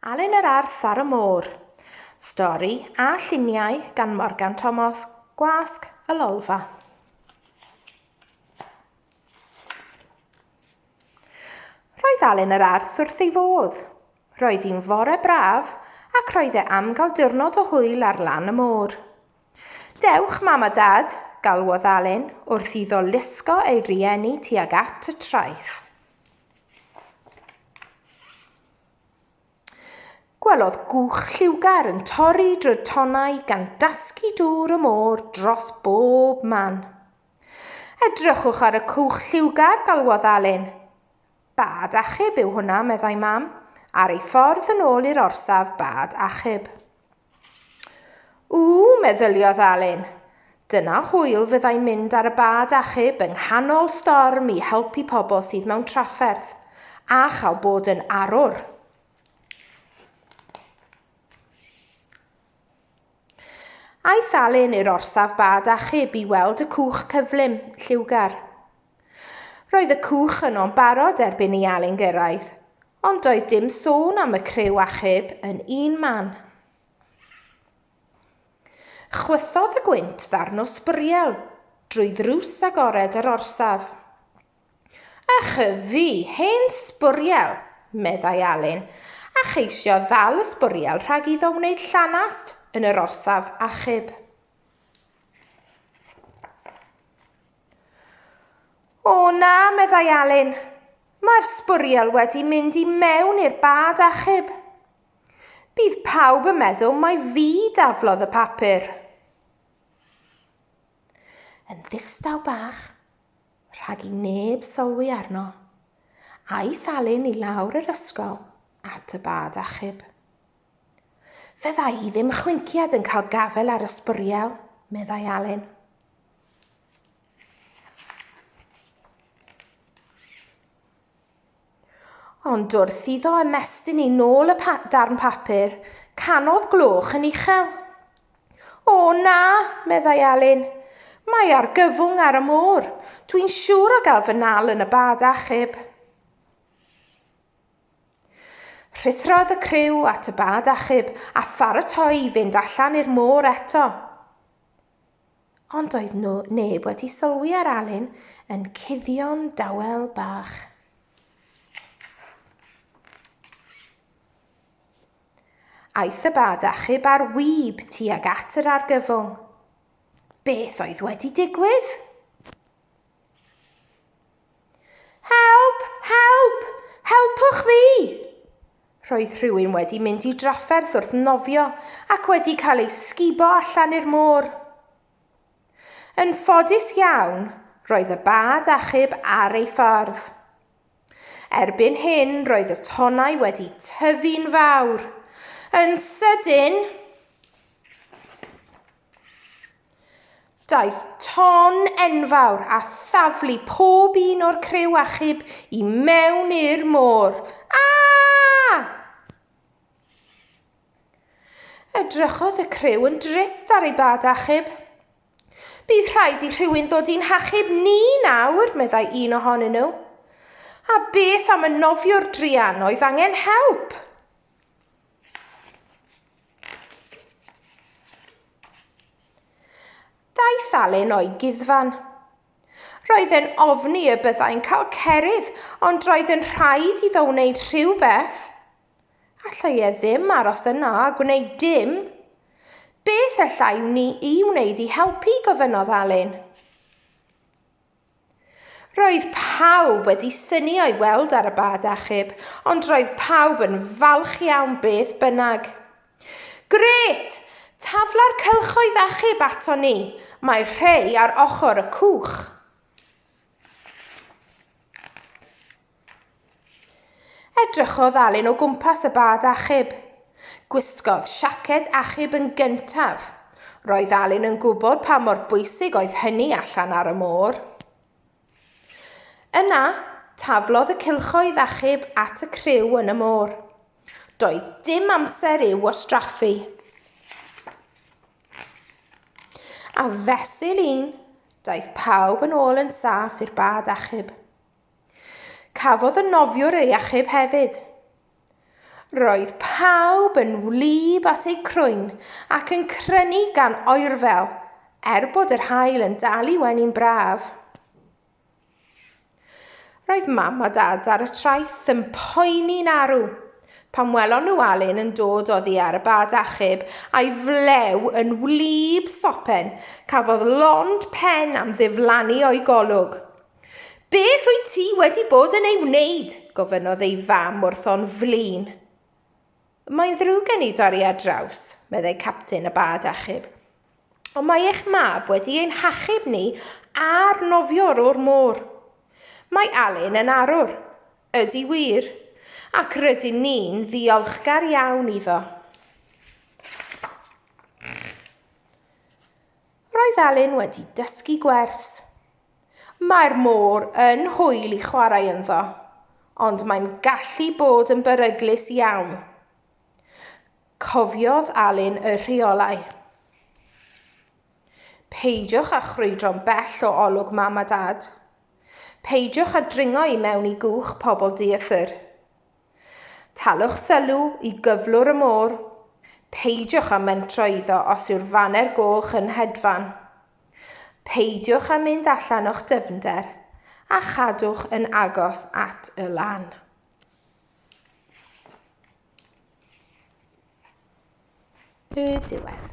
Alun yr Arth ar y Môr. Stori a lluniau gan Morgan Tomos, Gwasg y Lolfa. Roedd Alun yr Arth wrth ei fodd. Roedd hi'n fore braf ac roedd e am gael diwrnod o hwyl ar lan y môr. Dewch, mam a dad, galwodd Alun wrth iddo lusgo ei rieni tuag at y traeth. Gwelodd gwch lliwgar yn torri drwy'r tonnau gan dasgu dŵr y môr dros bob man. Edrychwch ar y cwch lliwgar, galwodd Alun. Bad achub yw hwnna, meddai Mam, ar ei ffordd yn ôl i'r orsaf bad achub. O! meddyliodd Alun. Dyna hwyl fyddai mynd ar y bad achub yng nghanol storm i helpu pobl sydd mewn trafferth, a chael bod yn arwr. Aeth Alun i'r orsaf bad achub i weld y cwch cyflym, lliwgar. Roedd y cwch yno'n barod erbyn i Alun gyrraedd, ond doedd dim sôn am y criw achub yn un man. Chwythodd y gwynt ddarn o sbwriel drwy ddrws agored yr orsaf. Ych y fi, hen sbwriel, meddai Alun, a cheisio ddal y sbwriel rhag iddo wneud llanast yn yr orsaf achub. O na, meddai Alun. Mae'r sbwriel wedi mynd i mewn i'r bad achub. Bydd pawb yn meddwl mai fi daflodd y papur. Yn ddistaw bach, rhag i neb sylwi arno, aeth Alun i lawr yr ysgol at y bad achub. Fe ddau i ddim chwinciad yn cael gafel ar y sbwriel, meddai Alun. Ond wrth iddo ymestyn ei nôl y pa darn papur, canodd gloch yn uchel. O na, meddai Alun. Mae argyfwng ar y môr. Dwi'n siŵr o gael fy nal yn y bad achub. Rhuthrodd y criw at y bad achub a pharatoi i fynd allan i'r môr eto. Ond doedd nhw neb wedi sylwi ar Alun yn cuddio'n dawel bach. Aeth y bad achub ar wyb tuag at yr argyfwng. Beth oedd wedi digwydd? Help! Help! Helpwch fi! Roedd rhywun wedi mynd i drafferth wrth nofio ac wedi cael ei sgubo allan i'r môr. Yn ffodus iawn, roedd y bad achub ar ei ffordd. Erbyn hyn, roedd y tonnau wedi tyfu'n fawr. Yn sydyn, Daeth ton enfawr a thaflu pob un o'r criw achub i mewn i'r môr. Aa! Edrychodd y criw yn drist ar ei bad achub. Bydd rhaid i rhywun ddod i'n hachub ni nawr, meddai un ohonyn nhw. A beth am y nofio'r druan oedd angen help? Daeth Alun o'i guddfan. Roedd e'n ofni y byddai'n cael cerydd ond roedd yn rhaid iddo wneud rhywbeth. Allai e ddim aros yna a gwneud dim. Beth allai wni i wneud i helpu, gofynnodd Alun. Roedd pawb wedi syni o'i weld ar y bad achub, ond roedd pawb yn falch iawn beth bynnag. Gret! Tafla'r cylchoedd achub ato ni. Mae rhei ar ochr y cwch. Edrychodd Alun o gwmpas y bad achub. Gwisgodd siaced achub yn gyntaf. Roedd Alun yn gwybod pa mor bwysig oedd hynny allan ar y môr. Yna, taflodd y cylchoedd achub at y criw yn y môr. Doedd dim amser i'w wastraffu. A fesul un, daeth pawb yn ôl yn saff i'r bad achub. Cafodd y nofiwr ei achub hefyd. Roedd pawb yn wlyb at eu crwyn ac yn crynu gan oerfel, er bod yr haul yn dal i wenu'n braf. Roedd mam a dad ar y traeth yn poeni'n arw pan welon nhw Alun yn dod oddi ar y bad achub a'i flew yn wlyb sopen, cafodd lond pen am ddiflannu o'i golwg. Beth wyt ti wedi bod yn ei wneud? gofynnodd ei fam wrth o'n flin. Mae'n ddrwg gen i dorri ar draws, meddai captain y bad achub. Ond mae eich mab wedi ein hachub ni a'r nofiwr o'r môr. Mae Alun yn arwr. Ydy wir. Ac rydyn ni'n ddiolchgar iawn iddo. Roedd Alun wedi dysgu gwers. Mae'r môr yn hwyl i chwarae ynddo, ond mae'n gallu bod yn beryglus iawn. Cofiodd Alun y rheolau. Peidiwch â chrwydro'n bell o olwg mam a dad. Peidiwch â dringo i mewn i gwch pobl dieithr. Talwch sylw i gyflwr y môr, peidiwch â mentro iddo os yw'r faner goch yn hedfan. Peidiwch â mynd allan o'ch dyfnder, a chadwch yn agos at y lan. Y diwedd.